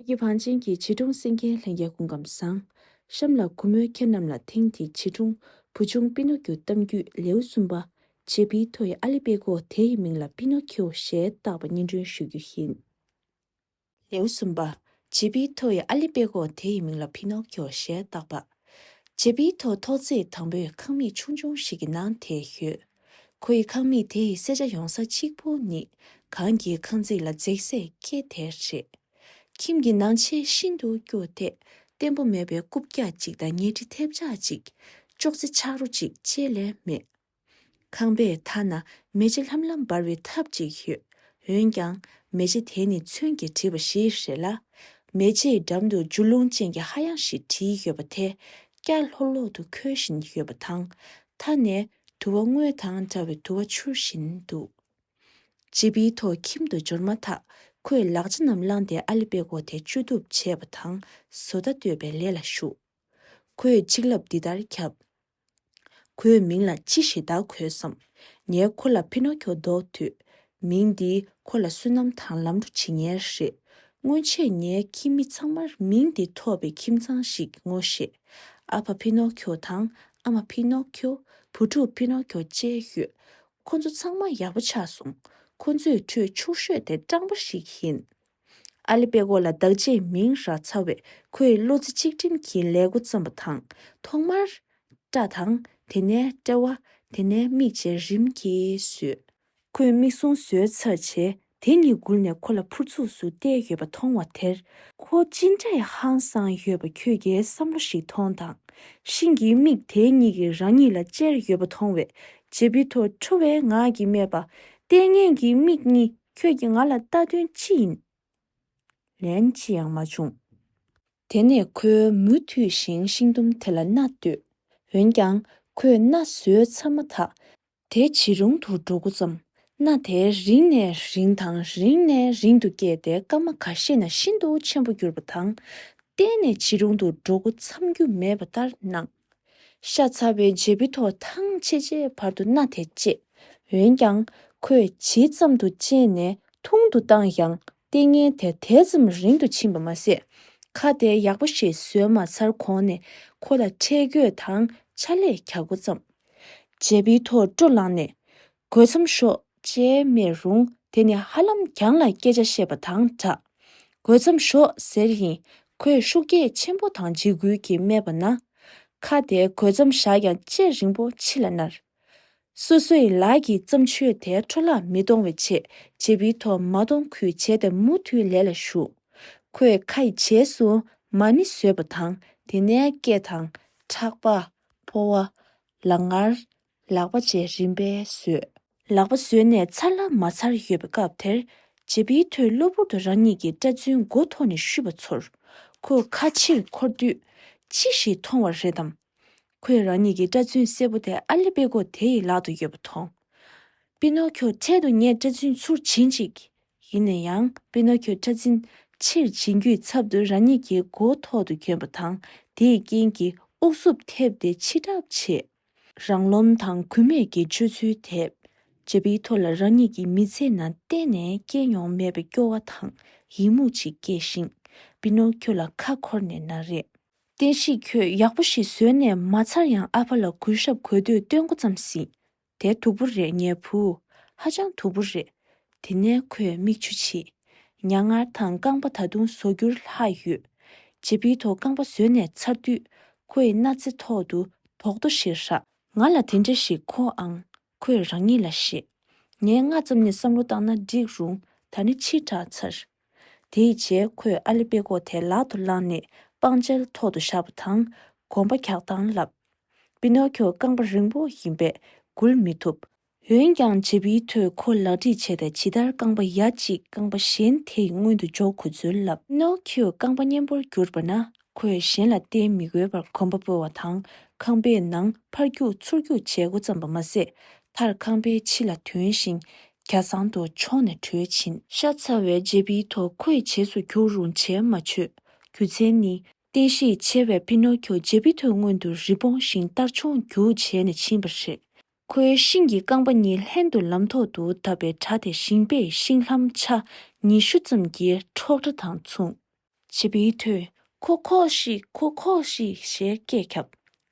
ཀྱི་བང་ཆེན་གྱི་བྱིས་སྒྲུང་སེང་གེའི་ལྷན་སྐྱེས་སྐུ་ཁམས་བཟང། གཤམ་ལ་གུས་མོས་ཁྱེད་རྣམས་ལ་དེང་དེའི་བྱིས་སྒྲུང་བུ་ཆུང་པི་ནོ་ཀྱུ་གཏམ་རྒྱུད་ལེའུ་གསུམ་པ། ཇེ་པི་ཐོ་ཡི་ཨ་ལི་པེ་ཀོ་དེ་ཡི་མིང་ལ་པི་ནོ་ཁྱེའུ་ཞེས་བཏགས་པ་སྙན་སྒྲོན་ཞུ་རྒྱུ་ཡིན། ལེའུ་གསུམ་པ། ཇེ་པི་ཐོ་ཡི་ཨ་ལི་པེ་ཀོ་དེ་ཡི་མིང་ལ་པི་ནོ་ཁྱེའུ་ཞེས་བཏགས་པ། ཇེ་པི་ཐོ་ཐོག་བརྩེགས་དང་པོའི་ཁང་མིག་ཆུང་ཆུང་ཞིག་གི་ནང་དེ་ཡོད། ཁོ་ཡི་ཁང་མིག་དེ་ཡི་གསེར་བྱ་ཡོང་ས་གཅིག་པུ་ནི་གངས་ཀྱི་ཁང་བརྩེགས་ལ་འཛེགས་སའི་སྐེད་དེ་རེད། ཁྱིམ་གྱི་ནང་ཆས་ཤིན་ཏུ་སྐྱོ་དེ། བརྟན་པོ་མེད་པའི་རྐུབ་བཀྱག་ཅིག་དང་ཉལ་ཁྲི་ཐེབས་ཆག་ཅིག། ཅོག་ཙེ་ཆག་རོ་ཅིག་བཅས་ལས་མེད། ཁང་པའི་མཐའ་ན་མེ་ལྕེ་ལྷམ་ལྷམ་འབར་བའི་ཐབ་ཅིག་ཡོད། འོན་ཀྱང། མེ་ལྕེ་དེ་ནི་ཚོན་གྱིས་བྲིས་པ་ཞིག་རེད་ལ། མེ་ལྕེའི་འགྲམ་དུ་འཇུ་ལུང་ཅན་གྱི་ཧ་ཡང་ཞིག་བྲིས་ཡོད་པ་དེ། སྐྱ་ལྷོག་ལྷོག་ཏུ་འཁོལ་བཞིན་ཡོད་པ་དང། མཐའ་ནས་དུ་བ་དངོས་དང་འདྲ་བའི་དུ་བ་འཕྱུར་བཞིན་འདུག་ཅེས་པི་ཐོག་ཁྱིམ་དུ་འབྱོར་མ་ཐག་ཁོས་ལག་ཆ་རྣམས་བླངས་ཏེ་ཨ་ལི་དཔེ་ཀོ་དེ་བཅོས་གཏུབ་བྱེད་པ་དང་བཟོ་ལྟ་གཏོད་པའི་ལས་ལ་ཞུགས། ཁོས་ཆིག་ལབ་འདི་ལྟར་ཁྱབ། ཁོའི་མིང་ལ་ཅི་ཞེས་བཏགས་གོས་སམ། ངས་ཁོ་ལ་ཕི་ནོ་ཁྱོ་འདོགས་དུས། མིང་འདིས་ཁོ་ལ་བསོད་ནམས་དང་ལམ་འགྲོ་བྱེད་ཉེར་ཞེས། སྔོན་ཆད་ངའི་ཁྱིམ་མི་ཚང་མར་མིང་འདི་ཐོགས་པའི་ཁྱིམ་ཚང་ཞིག་ངོ་ཤེས། ཨ་ཕ་ཕི་ནོ་ཁྱོ་དང་ཨ་མ་ཕི་ནོ་ཁྱོ། བུ་ཕྲུག་ཕི་ནོ་ཁྱོ་བཅས་ཡོད། ཁོ་ཚོ་ཚང་མ་ཡག་པོ་ཆགས་སོང། ཁོ་ཚོའི་ཁྲོད་ཕྱུག་ཤོས་དེ་སྤྲང་པོ་ཞིག་ཡིན། ཨ་ལི་པེ་ཁོ་ལ་བདག་ཅེས་མིང་རག་ཚར་བས་ཁོས་བློ་རྩེ་གཅིག་སྒྲིམ་གྱིས་ལས་འགོ་བརྩམས་པ་དང། ཐོག་མར། སྐྲ་དང། དེ་ནས་དཔྲལ་བ། དེ་ནས་མིག་བཅས་རིམ་གྱིས་བཟོས། ཁོས་མིག་ཟུང་བཟོད་ཚར་བྱས་དེ་གཉིས་སྒུར་ནས་ཁོ་ལ་ཕུར་ཚུགས་སུ་བལྟས་ཡོད་པ་མཐོང་བ་དེར། ཁོ་ཅི་འདྲའི་ཧང་སངས་ཡོད་པ་ཁྱོད་ཀྱིས་བསམ་བློ་ཞིག་ཐོངས་དང། ཤིང་གི་མིག་དེ་གཉིས་ཀྱིས་རང་ཉིད་ལ་ཅེར་ཡོད་པ་མཐོང་བས་ཇེ་བི་དོ་ཁྲོ་བའི་ངག་གིས་སྨྲས་པ། ལྟས་ངན་གྱི་མིག་གཉིས་ཁྱོད་ཀྱིས་ང་ལ་ལྟ་དོན་ཅི་ཡིན། ལན་ཅི་ཡང་མ་བྱུང། དེ་ནས་ཁོས་མུ་མཐུད་བཞིན་ཤིང་དུམ་དེ་ལ་སྣ་བཏོད། འོན་ཀྱང་ཁོས་སྣ་བཟོད་ཚར་མ་ཐག་དེ་ཇེ་རུང་དུ་འགྲོ་འགོ་བརྩམས། གནའ་དེར་རིང་ནས་རིང་དང་རིང་ནས་རིང་དུ་སྐྱེས་ཏེ་སྐར་མ་ག་ཤེད་ན་ཤིན་ཏུ་ཆེན་པོ་གྱུར་པ་དང། གཏན་ནས་ཇེ་རུང་དུ་འགྲོ་འགོ་འཚམས་རྒྱུ་མེད་པ་ལྟར་སྣང། ཤ་ཚ་བའི་རྗེས་བུ་ཐོག་ཐང་ཆེ་ཆེའི་བར་དུ་གནའ་དེ་སྐྱེས། འོན་ཀྱང། ཁོས་ཇི་ཙམ་དུ་གཅེས་ནས་ཐུང་དུ་བཏང་ཡང་ལྟས་ངན་དེ་དེ་ཙམ་རིང་དུ་ཕྱིན་པ་མ་ཟད། ཁ་བརྡའི་ཡག་པོ་ཞིག་བཟོས་མ་ཚར་གོང་ནས་ཁོ་ལ་ཁྲེལ་དགོད་དང་ཕྱག་ལས་གྱ་དགུ་བརྩམས། བྱས་པའི་ཐོག་སྤྲོ་བསླངས་ནས། དགོད་མཚམས་ཤོག་ཅེས་སྨྲས་རུང་དེ་ནི་ཧ་ལམ་གྱང་ལ་སྐད་ཆ་བཤད་པ་དང་འདྲ། དགོད་མཚམས་ཤོག་ཟེར་ཡིན། ཁོས་ཤུགས་རྒྱས་ཆེན་པོ་དང་འཇིགས་སྐུལ་གྱིས་སྨྲས་པ་ན། ཁ་བརྡའི་དགོད་མཚམས་བཞག་ཀྱང་ལྕེ་རིང་པོ་ཕྱི་ལ་མནར། སོ་སོའི་ལག་གི་བརྩམས་ཆོས་དེ་འཕྲོ་བརླག་མི་གཏོང་བའི་ཆེད་བྱེད་པི་ཐོག་མ་གཏོང་ཁུལ་བྱས་ཏེ་མུ་མཐུད་ལས་ལ་ཞུགས། ཁོས་ཁ་ཡི་བྱེས་སུ་མ་ཎི་བཟོས་པ་དང་དེ་ནས་སྐེ་དང། ཕྲག་པ། ཕོ་བ། ལག་ངར། ལག་པ་བཅས་རིམ་པས་བཟོས། ལག་པ་བཟོས་ནས་ཚར་ལ་མ་ཚར་ཡོད་པའི་སྐབས་དེར། བྱེད་པི་ཐོས་གློ་བུར་དུ་རང་ཉིད་ཀྱི་སྐྲ་རྫུན་མགོ་ཐོག་ནས་བཤུས་པ་ཚོར། ཁོས་ཁ་ཕྱིར་འཁོར་དུས། ཅི་ཞིག་མཐོང་བ་རེད་དམ། ཁོས་རང་ཉིད་ཀྱི་སྐྲ་རྫུན་སེར་པོ་དེ་ཨ་ལི་པེ་གོ་དེ་ཡི་ལག་ཏུ་ཡོད་པ་མཐོང། པི་ནོ་ཁྱོ་འཕྲལ་དུ་ངས་སྐྲ་རྫུན་ཚུར་བྱིན་ཅིག། ཡིན་ན་ཡང་པི་ནོ་ཁྱོས་སྐྲ་རྫུན་ཕྱིར་བྱིན་རྒྱུའི་ཚབ་ཏུ་རང་ཉིད་ཀྱི་མགོ་ཐོག་ཏུ་གྱོན་པ་དང་དེའི་རྐྱེན་གྱིས་ཨུག་སུབ་ཐེབས་ཏེ་འཆི་གྲབས་བྱེད། རང་རློམ་དང་གུས་མེད་ཀྱི་སྤྱོད་ཚུལ་དེས་ཇེ་པིའི་ཐུགས་ལ་རང་ཉིད་ཀྱི་མི་ཚེ་ནང་གཏན་ནས་སྐྱེས་མྱོང་མེད་པའི་སྐྱོ་བ་དང་ཡི་མུག་ཅིག་སྐྱེས་ཤིང་པི་ནོ་ཁྱོ་ལ་ཁ་འཁོར་ནས་ན་རེ། བསྟན་བཤིག་ཁྱོད་ཡག་པོ་ཞིག་བཟོས་ནས་མ་ཚར་ཡང་ཨ་ཕ་ལ་གུས་ཞབས་གོ་དུས་སྟོད་མགོ་ཙམ་ཟིན། དེ་དུག་པོ་རེད་ངའི་བུ། ཧ་ཅང་དུག་པོ་རེད། དེ་ནས་ཁོས་མིག་ཆུ་ཕྱིས། མྱ་ངར་དང་རྐང་པ་ད་དུང་བཟོ་རྒྱུར་ལྷག་ཡོད། རྗེ་བི་ཐོ་རྐང་པ་བཟོས་ནས་ཚར་དུས། ཁོའི་སྣ་རྩེ་ཐོག་ཏུ་དོག་ཏོ་ཞིག་རག། ང་ལ་དེ་འདྲ་ཞིག་མཁོ་ཨང། ཁོས་རང་ཉིད་ལ་བཤད། ངས་སྔ་ཙམ་ནས་བསམ་བློ་བཏང་ན་འགྲིག་རུང་ད་ནི་ཕྱིར་དྲགས་ཚར། དེའི་རྗེས་ཁོས་ཨ་ལི་དཔེ་ཀོག་དེ་ལག་ཏུ་བླངས་ནས་པང་གཅལ་ཐོག་ཏུ་བཞག་པ་དང་གོམ་པ་གྱགས་སྟངས་བསླབས། པི་ནོ་ཁྱོ་རྐང་པ་རིང་པོ་ཡིན་པས་འགུལ་མི་ཐུབ། འོན་ཀྱང་བྱེད་པོའི་ཐོས་ཁོ་ལག་བྲིས་བྱས་ཏེ་ཇི་ལྟར་རྐང་པ་ཡ་གཅིག་རྐང་པ་གཞན་དེ་ཡི་སྔུན་དུ་འཇོག་ཁུ་ཚུར་བསླབས། པི་ནོ་ཁྱོས་རྐང་པ་སྙན་པོར་བསྒྱུར་པ་ན་ཁོས་གཞན་ལ་བརྟེན་མི་དགོས་པར་གོམ་པ་སྤོས་བ་དང་ཁང་པའི་ནང་ཕར་རྒྱུག་ཚུར་རྒྱུག་བྱེད་འགོ་བརྩམས་པ་མ་ཟད། མཐར་ཁང་པའི་ཕྱི་ལ་དོན་ཞིང་གྱ་ཚང་དུ་མཆོངས་ནས་བྲོས་ཕྱིན། ཤ་ཚ་བའི་རྗེས་པི་ཐོ་ཁོའི་བྱེས་སུ་གྱུར་རུང་བྱས་མ་ཆོད་རྒྱུ་མཚན་ནི། བརྟན་ཤེད་ཆེ་བའི་པི་ནོ་ཁྱོ་རྗེས་པི་ཐོའི་སྔོན་དུ་རི་བོང་བཞིན་ལྟར་མཆོངས་རྒྱུག་བྱས་ནས་ཕྱིན་པ་རེད། ཁོའི་ཤིང་གི་རྐང་པ་གཉིས་ལྷན་དུ་ལམ་ཐོག་ཏུ་བརྡབས་པའི་སྒྲ་དེ་ཞིང་པས་ཤིང་ལྷམ་ཆ་ཉི་ཤུ་ཙམ་གྱི་འཕྲོག་སྒྲ་དང་མཚུངས། བྱིས་པའི་དུས་ཁོ་ཁོ་ཤིག་ཁོ་ཁོ་ཤིག་ཞེས་སྐད་ཁྱབ།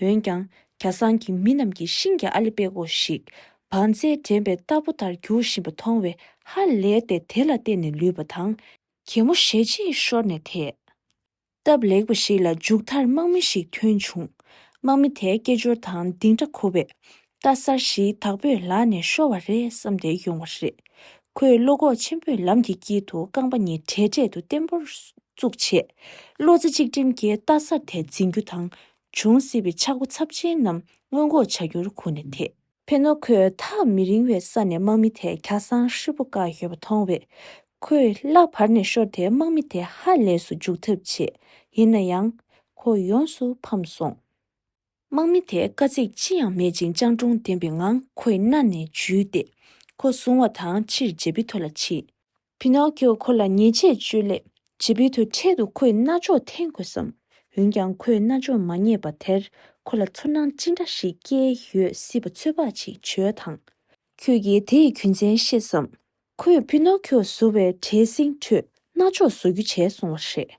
འོན་ཀྱང་གྱ་སང་གི་མི་རྣམས་ཀྱིས་ཤིང་གི་ཨ་ལི་པེ་གོ་ཞིག་བང་རྩལ་འགྲན་པའི་རྟ་ཕོ་ལྟར་འགྱུར་བཞིན་པ་མཐོང་བས་ཧ་ལས་ཏེ་དེ་ལ་བརྟེན་ནས་ལུས་པ་དང། གད་མོ་ཞལ་གཅིག་ཤོར་ནས་དེད། སྟབས་ལེགས་པ་ཞིག་ལ་མཇུག་མཐར་དམག་མི་ཞིག་ཐོན་བྱུང། དམག་མི་དེས་སྐད་ཅོར་དང་ལྡིང་སྒྲ་གོ་བས། རྟ་གསར་བཞིའི་དྭགས་པོས་ལག་ནས་ཤོར་བ་རེད་བསམ་ཏེ་ཡོང་བ་རེད། ཁོས་བློ་ཁོག་ཆེན་པོས་ལམ་གྱི་དཀྱིལ་དུ་རྐང་པ་གཉིས་གྲལ་གྲལ་དུ་བརྟན་པོར་བཙུགས་རྗེས། བློ་རྩེ་གཅིག་སྒྲིམ་གྱིས་རྟ་གསར་དེ་འཛིན་རྒྱུ་དང། འབྱུང་སྲིད་པའི་ཆག་སྒོ་ཚབས་ཆེན་རྣམས་སྔོན་འགོག་བྱ་རྒྱུར་གོ་ནས་དེད། ཕན་ནོ་ཁོས་ཐག་མི་རིང་བའི་ས་ནས་དམག་མི་དེ་གྱ་སང་ཧྲིལ་པོ་བཀག་ཡོད་པ་མཐོང་བས། ཁོས་གླགས་བར་ནས་ཤོར་དེ་དམག་མི་དེ་ཧ་ལས་སུ་འཇུག་ཐབས་བྱས། ཡིན་ན་ཡང། ཁོ་ཡོངས་སུ་ཕམ་སོང། དམག་མི་དེས་དཀའ་ཚེགས་ཅི་ཡང་མེད་ཅིང་སྤྱང་གྲུང་ལྡན་པའི་ངང་ཁོའི་སྣ་ནས་འཇུས་ཏེ། ཁོ་བཟུང་བ་དང་ཕྱིར་ཇེ་བི་ཐོ་ལ་ཕྱིན། ཕི་ནོ་ཀིའོ་ཁོ་ལ་ཉེས་ཆད་གཅོད་སླད་ཇེ་བི་ཐོའི་འཕྲལ་དུ་ཁོའི་རྣ་ཅོག་འཐེན་དགོས་བསམ། འོན་ཀྱང་ཁོའི་རྣ་ཅོག་མ་རྙེད་པ་དེར་ཁོ་ལ་ཚོར་སྣང་ཅི་འདྲ་ཞིག་སྐྱེས་ཡོད་སྲིད་པ་ཚོད་དཔག་ཅིག་བྱོས་དང། ཁྱོད་ཀྱིས་དེ་ཡི་རྒྱུ་མཚན་ཤེས་སམ། ཁོས་ཕི་ནོ་ཀིའོ་བཟོ་བའི་གྲྭའི་གསེང་ཁྲོད་རྣ་ཅོག་བཟོ་རྒྱུ་བྱས་སོང་བ་རེད།